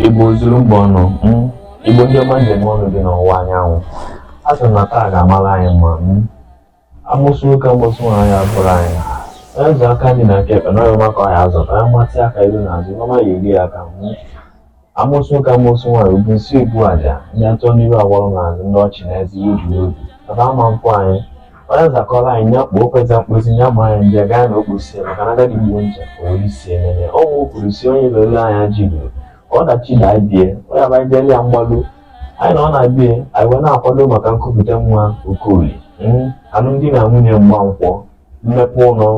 Igbo zuru mba ọnụ mm, Igbo ndị ọma njem ọnụ dị n'ọwụwa anyanwụ a sị na taa ga-amara anyị mma mm. amosu nwoke amosu nwaanyị abụrụ anyị onye zụ aka nri na aka ekpe na ọma ka ọ ya azụ ka ya matị aka iru na azụ ọma ya eri aka mm. amosu nwoke amosu nwaanyị bu isi ebu aja ndị atọ n'iru agwọrọ na azụ ndị ọchị na eze ibu obi ebe ama nkwụ anyị onye nzakọrọ anyị ya kpọọ kweta mkposi ya ma anyị nje gaa na okposi ya maka na agadi gbuo ncha o nwere isi emene ọnwụ kwuru si onye lere anya ji ruru ka ọdachi na-abịa onye abanye jele ya mgbalu anyị na ọ na-abịa anyị wee na-akwado maka nkupụta nwa Okolie alụmdi na nwunye ịgba nkwụ mmepe ụlọ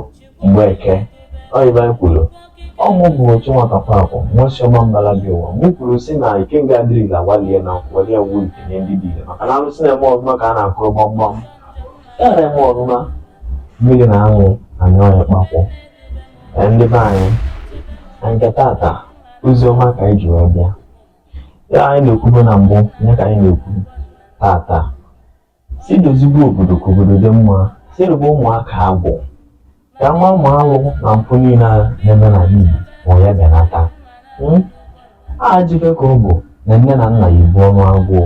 mgbe eke ọyịba anyị kwuru ọmụ bụ otu nwata pakwụ nwesiọma mbala bi ụwa mụ kwuru si na ikenga adịrọ ile agbalie na nkụ welie nwu ikenga ndị dị ile maka na alụsị na-eme ọzụma ka a na-akụrụ gbamgbam ya na-eme ọzụma mmiri na anwụ anyị ọya kpakwụ Ee, ndị be anyị na nke tata ozi ọma ka anyị ji wee bịa ya anyị na-ekwubo na mbụ nya ka anyị na-ekwu tata si dozibe obodo ka obodo dị mma si rụba ụmụaka agwụ ka ama ụmụ alụ na mpụ niile a na-eme n'ala Igbo ma ya benata Mm? ajọ ife ka ọ bụ na nne na nna ya ebu ọnụ agụụ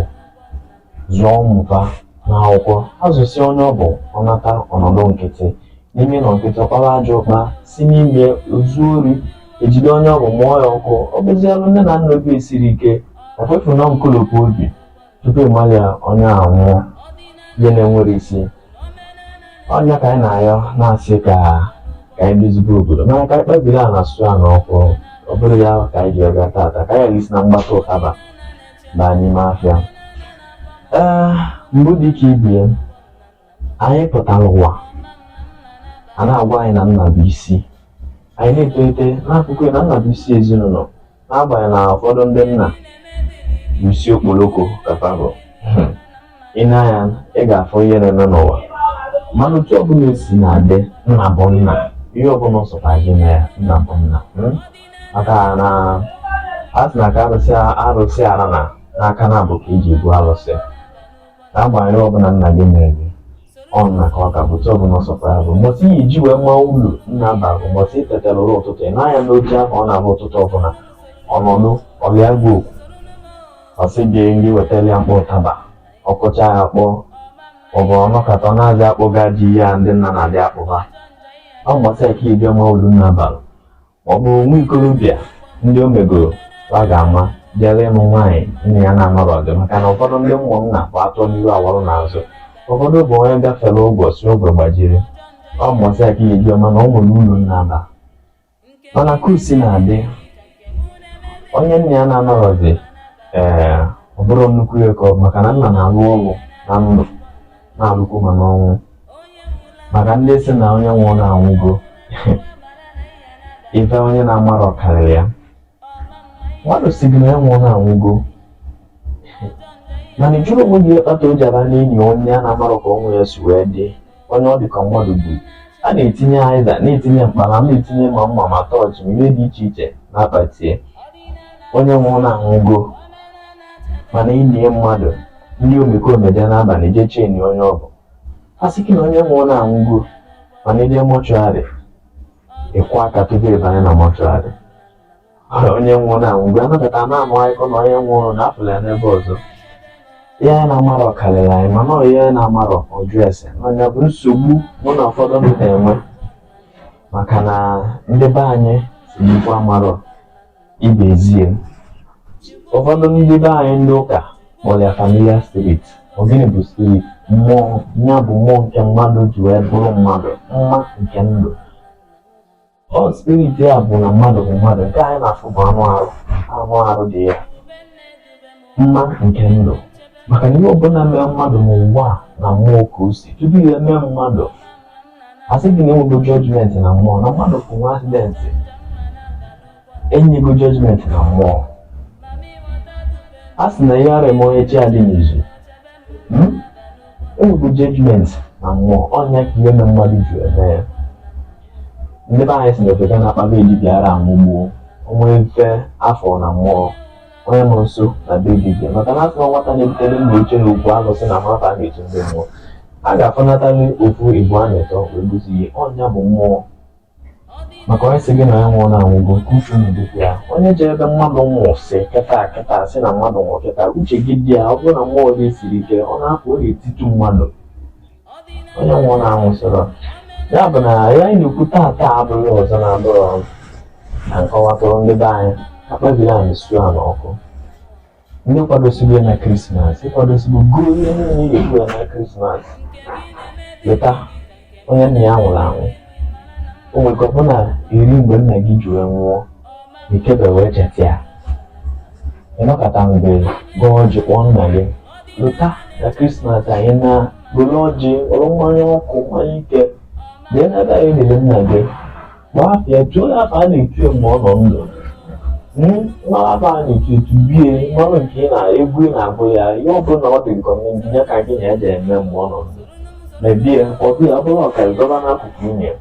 zụọ nwata n'akwụkwọ azụsịa onye ọ bụ ọ nata ọ nọdụ nkịtị n'ime nọ nkịtị ọ kpara ajọ ụkpa si n'ime o zuo ori ejide onye ọ bụ mụọ ya ọkụ ọ bụzialụ nne na nna obi esiri ike o fefu na nkolopu obi tupu ịmalị ya onye anwụọ ihe na-enwerọ isi ọ nya ka anyị na-ayọ na-asị ka ka anyị dozibe obodo mana ka anyị kpebiri a na-asụ ya na ọkụ ọ bụrụ ya ka anyị ji bịa tata ka anyị si na mgbata ụtaba baa n'ime afịa ee mbụ dị ka ibie anyị pụtara ụwa a na-agwa anyị na nna bụ isi anyị na-etolite n'akụkọ na nna bụ isi ezinụlọ n'agbanyeghị na ụfọdụ ndị nna bụ isi okporoko kapago ị nee anya ị ga-afụ ihe na-eme n'ụwa mana otu ọbụla esi na-adị nna bụ nna ihe ọbụla ọ sọkwa gị na ya nna bụ nna hmm? maka na a sị na ka arụsị ara na na aka naabọ ka eji ebu arụsị ka a gbara ọ bụla nna gị mere gị ọ nna ka ọ ka bụ tọbụ na ọsọpụ ya bụ mbọsị ị ya-eji wee ma uru nna bara bụ mbọsị ị tetara ụra ụtụtụ ị nee anya n'oche ahụ ọ na-abụ ụtụtụ ọbụla ọ nọdụ ọ gwa gị okwu ọ sị gị gị wetara ya mkpọ ụtaba ọ kụcha ya kpọọ ọ bụ ọ nọkata ọ na-azị akpọga ji ya ndị nna na-adị akpụba ọ mbọsị a ka ị bịa ma uru nna bara ma ọ bụ nwa ikorobịa ndị o megoro ọ ga-ama jere ịnụ nwaanyị nna ya na-anọrọ maka na ụfọdụ ndị ụmụ nna bụ atọ n'ihu awọrọ n'azụ ụfọdụ bụ onye gafere ụbọchị ogwe gbajiri ọ mbọsị a ka e ji ama na o nwere uru nna aba mana ka o si na-adị onye nna ya na-anọrọzi ee ọ bụrụ nnukwu ego maka na nna na-alụ ọrụ na ndụ na-alụkwu ma n'ọnwụ maka ndị si na onye nwụọ na-anwụgo ife onye na-amarọ karịrị ya mmadụ si gị na ya nwụọ na-anwụgo mana ị jụrụ onwe gị kpata e ji aba n'ini onye a na-amarọ ka ọnwụ ya si wee dị onye ọ dị ka mmadụ gburu a na-etinye azịza na-etinye mkpara na-etinye ma mma ma torch ma ihe dị iche iche n'akpati ya onye nwụọ na-anwụgo mana e nie mmadụ ndị omekome bịa n'abalị jee che ini onye ọ bụ a sị gị na onye nwụọ na-anwụgo mana ị je mortuary ị kụọ aka tupu ị banye na mortuary onye nwụọ na-anwụgo anabata na anụ akụkọ na onye nwụrụ na a fụrụ ya n'ebe ọzọ ihe anyị na-amarọ karịrị anyị mana ọ ihe anyị na-amarọ ọ jụọ ese na ọ nya bụ nsogbu mụ na ụfọdụ ndị na-enwe maka na ndị be anyị si n'ikwu amarọ Ibe ezie. Ụfọdụ ndị be anyị ndị ụka kpọrọ ya familiar spirit. Ọ gịnị bụ spirit? Mmụọ ya bụ mmụọ nke mmadụ ji wee bụrụ mmadụ, mma nke ndụ. Ọ spirit ya bụ na mmadụ bụ mmadụ, nke anyị na-afụ bụ anụ arụ, anụ arụ dị ya. Mma nke ndụ. Maka na ihe ọbụla mee mmadụ n'ụwa a na mmụọ ka o si, tupu ya emee mmadụ, a sị gị na e nwego judgment na mmụọ, na mmadụ bụ nwee accident. e nyego judgment na mmụọ a sị na ihe ara eme onye chi adị n'izu hmm? e nwego judgment na mmụọ ọ nya ka ihe mee mmadụ ji eme ya ndị be anyị si na ofeke na-akpa be dibia ara anwụgbuo onwe mfe afọ na mmụọ onye nọ nso na be dibia maka na a sị na nwata na-ebutere nna oche na okwu alụsị na nwata na-eji ndị mmụọ a ga-afọnatali ofu igbo a na-etọ wee gụzi ihe ọ nya bụ mmụọ maka onye si gị na ya nwụọ na anwụgo nke uche unu dịkwa ya onye jere ebe mmadụ nwụrụ si kịta kịta si na mmadụ nwụrụ kịta uche gị dị ya ọ bụrụ na mmụọ gị siri ike ọ na-apụ ọ na-etitu mmadụ onye nwụọ na anwụsịrọ ya bụ na ihe anyị na-ekwu taata abụghị ọzọ na-abụrọ na m kọwatụrụ ndị be anyị akpabiri anyị su a n'ọkụ ndị kwadosiri ya na krismas ị kwadosigo ihe niile ị ga-ekwu ya na krismas lota onye nna ya nwụrụ anwụ o nwere ike ọ bụ na eri mgbe nna gị ji wee nwụọ ikebe wee cheta ya ị nọkata mgbe gọọ ọjị kpọọ nna gị lota na krismas anyị na goro ọjị goro mmanya ọkụ mmanya ike jee n'ebe e liri nna gị Nwafịa jụọ ya afa a na-etu ya mgbe ọ nọ ndụ. Hmm, Mara afa a na-etu etubie mmanụ nke ị na-egwu ị na-agụ ya ihe ọ bụla ọ dị nke ọma ndị ya ka gị na ya ga-eme mgbe ọ nọ ndụ. Mebie ọ dị ya bụrụ ọka ị dọba n'akụkụ ini e.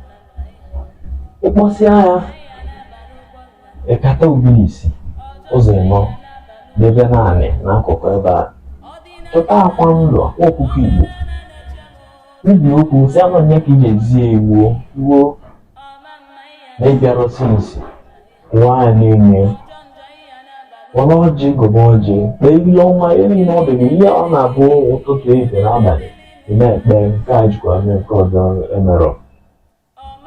Ị kpọsịa ya ịkata ubi isi ụzọ ịnọ debe n'anị n'akụkụ ebe a. Chọta akwa ndụ akwa ọkụkọ Igbo Kwubie okwu, sị anụ onye ka ị ga-ezi ya iwu ruo na ị bịara ọsị nsị kụwa ya n'ini e were ọjị gọba ọjị kpee ile ọnwa ihe niile ọ dịghị ihe ọ na-abụ ụtụtụ ehihie na abalị ị na-ekpe nke a jikwa mee nke ọzọ emerọ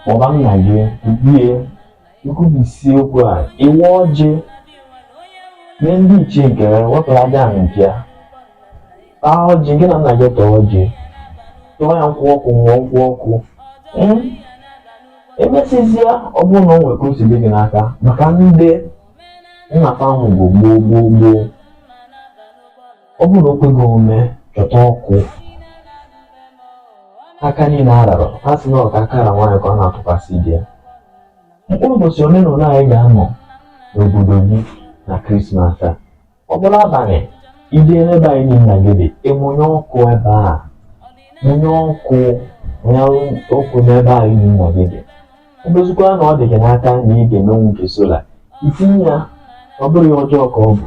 kpọba nna gị kwubie i kwubisie okwu a i we ọjị nye ndị ichie nke ya wepụrụ aja ahụ nke ya taa ọjị gị na nna gị tọọ ọjị tụọ ya nkwụ ọkụ nwụọ nkwụ ọkụ Hmm? emesịzịa ọ bụrụ na o nwere ka o si dị gị n'aka maka ndị nna fa nwụgo gboo gboo gboo ọ bụrụ na o kweghị omume chọta ọkụ aka niile arara a sị na ọ ka aka ra nwaanyị ka ọ na-atụkwasị di ya mkpụrụ ụbọchị ole na ole ị ga-anọ n'obodo gị na krismas a ọ bụrụ abalị i je n'ebe ini nna gị dị i munye ọkụ ebe a munye ọkụ ya ọkụ n'ebe ini nna gị dị ọ bụzikwa na ọ dị gị n'aka na ị ga-emenwu nke solar i tinye ya ọ bụrụ ya ọjọọ ka ọ bụ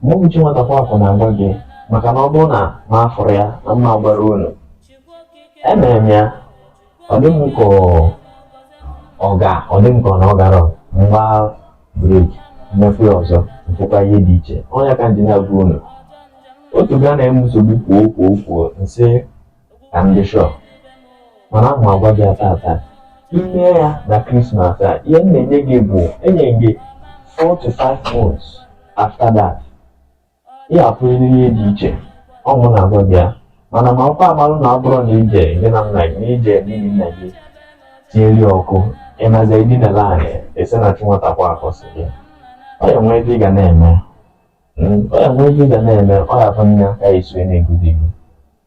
ma ọ mụ chi nwatakwa akụ na-agwa gị maka na ọ bụrụ na m afụrọ ya na m ama gwara unu emere m ya ọ dị m ka ọ ga ọ dị m ka ọ na ọ gara m gbaa break m mekwa ya ọzọ m fụkwa ihe dị iche ọ ya ka m ji na-agwa unu otu ga na-eme nsogbu kwuo kwuo kwuo m sị ka m dị sure mana m agwa gị taa taa i mee ya na krismas a ihe m na-enye gị bụ enye gị 4 to 5 months after that ị ga-afụrịrị ihe dị iche ọ mụ na-agwa gị ya mana makwa amalụ na ọ bụrụ na i je n'ini nna gị na i je n'ini nna gị tinyere ọkụ ị nazie dinala anị ị sị na chi nwatakwa akụ sị gị ọ ya nwee ebe ị ga na-eme ọ ya nwee ebe ị ga na-eme ọ ya bụ nne aka esi na-egozi gị